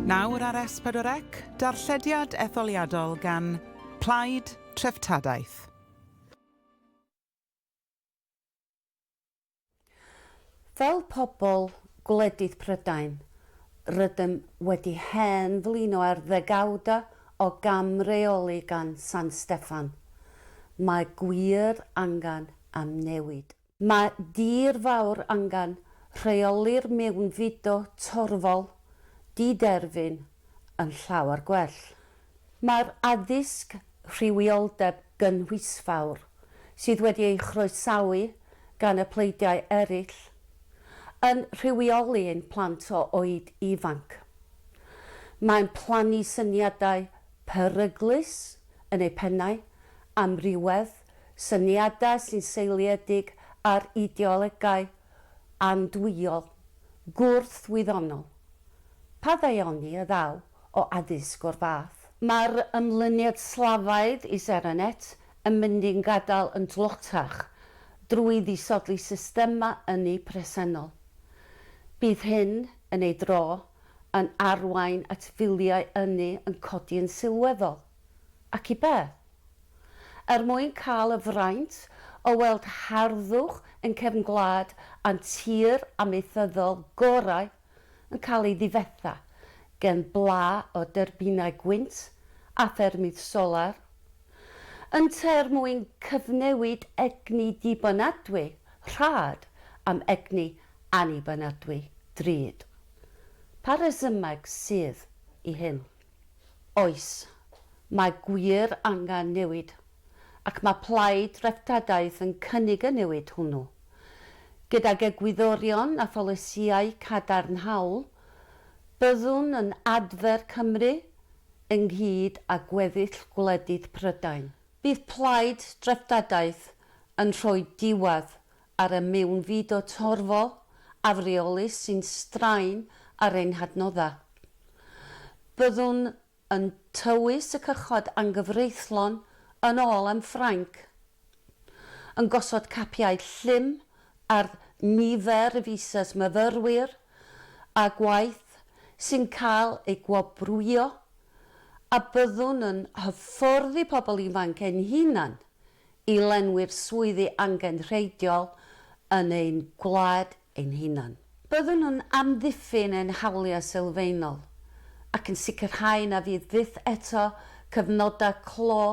Nawr ar S4C, darllediad etholiadol gan Plaid Treftadaeth. Fel pobl gwledydd Prydain, rydym wedi hen flino ar ddegawdau o gam-reoli gan San Steffan. Mae gwir angen am newid. Mae dir fawr angen rheoli'r mewnfudo torfol di-derfyn yn llawer gwell. Mae'r addysg rhywioldeb gynhwysfawr, sydd wedi ei chroesawu gan y pleidiau eraill, yn rhywioli ein plant o oed ifanc. Mae'n plannu syniadau peryglus yn eu pennau, amrywedd, syniadau sy'n seiliedig ar ideolegau andwyol, gwrth-wyddonol. Pa ddaioni a ddaw o addysg o'r fath? Mae'r ymlyniad slafaidd i Serenets yn mynd i'n gadael yn dlotach drwy ddisodli systemau ynni presennol. Bydd hyn, yn ei dro, yn arwain at filiau ynni yn codi yn sylweddol. Ac i be? Er mwyn cael y fraint o weld harddwch ein cefn gwlad a'n tir amaethyddol gorau yn cael ei ddifetha gen bla o dyrbinau gwynt a ffermydd solar? Ynt er mwyn cyfnewid egni dibynadwy rhad am egni annibynadwy drud? Pa resymeg sydd i hyn? Oes, mae gwir angen newid, ac mae Plaid Dreftadaeth yn cynnig y newid hwnnw. Gydag egwyddorion a pholisïau cadarnhaol, byddwn yn adfer Cymru, ynghyd â gweddill gwledydd Prydain. Bydd Plaid Dreftadaeth yn rhoi diwedd ar y mewnfudo torfol, afreolus sy'n straen ar ein hadnoddau. Byddwn yn tywys y cychod anghyfreithlon yn ôl am Ffrainc, yn gosod capiau llym ar nifer y visas myfyrwyr a gwaith sy'n cael eu gwobrwyo, a byddwn yn hyfforddi pobl ifanc ein hunain i lenwi'r swyddi angenrheidiol yn ein gwlad ein hunain. Byddwn yn amddiffyn ein hawliau sylfaenol ac yn sicrhau na fydd byth eto cyfnodau clo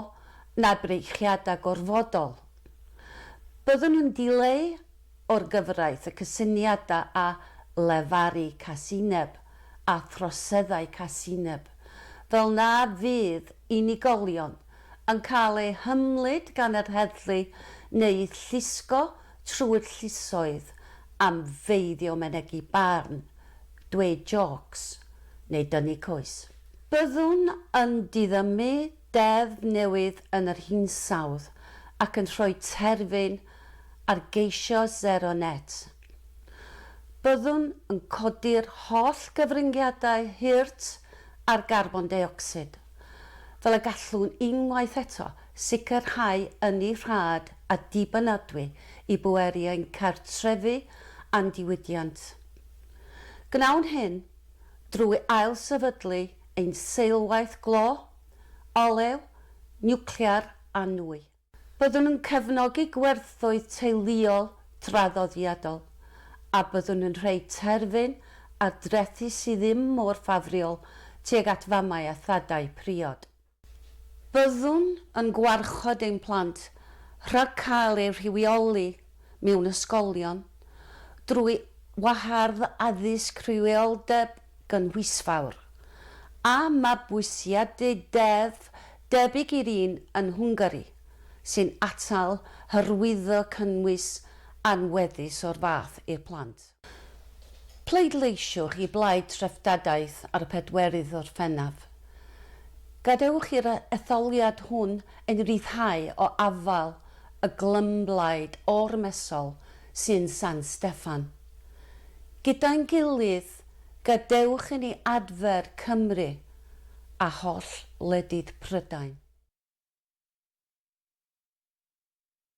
na breichiadau gorfodol. Byddwn yn dileu o'r gyfraith y cysyniadau a lefaru casineb a throseddau casineb, fel na fydd unigolion yn cael eu hymlid gan yr heddlu neu llusgo trwy'r llusoedd am feiddio mynegi barn, dweud jôcs neu dynnu coes. Byddwn yn diddymu deddf newydd yn yr hinsawdd ac yn rhoi terfyn ar geisio sero net. Byddwn yn codi'r holl gyfryngiadau hurt ar garbon deuocsid. fel y gallwn unwaith eto sicrhau ynni rhad a dibynadwy i bweru ein cartrefi a'n diwydiant. Gwnawn hyn drwy ailsefydlu ein seilwaith glo, olew, niwclear a nwy. Byddwn yn cefnogi gwerthoedd teuluol traddodiadol, a byddwn yn rhoi terfyn ar drethi sydd ddim mor ffafriol tuag at famau a thadau priod. Byddwn yn gwarchod ein plant rhag cael eu rhywioli mewn ysgolion drwy wahardd addysg rhywioldeb gynhwysfawr, a mabwysiadu deddf Debyg i'r un yn Hwngari, sy'n atal hyrwyddo cynnwys anweddus o'r fath i'r plant. Pleidleisiwch i blaid treftadaeth ar y pedwerydd Orffennaf. Gadewch i'r etholiad hwn ein rhyddhau o afael y glymblaid ormesol sy'n San Steffan. Gyda'n gilydd, Plîs, gadewch i ni adfer Cymru a holl wledydd Prydain.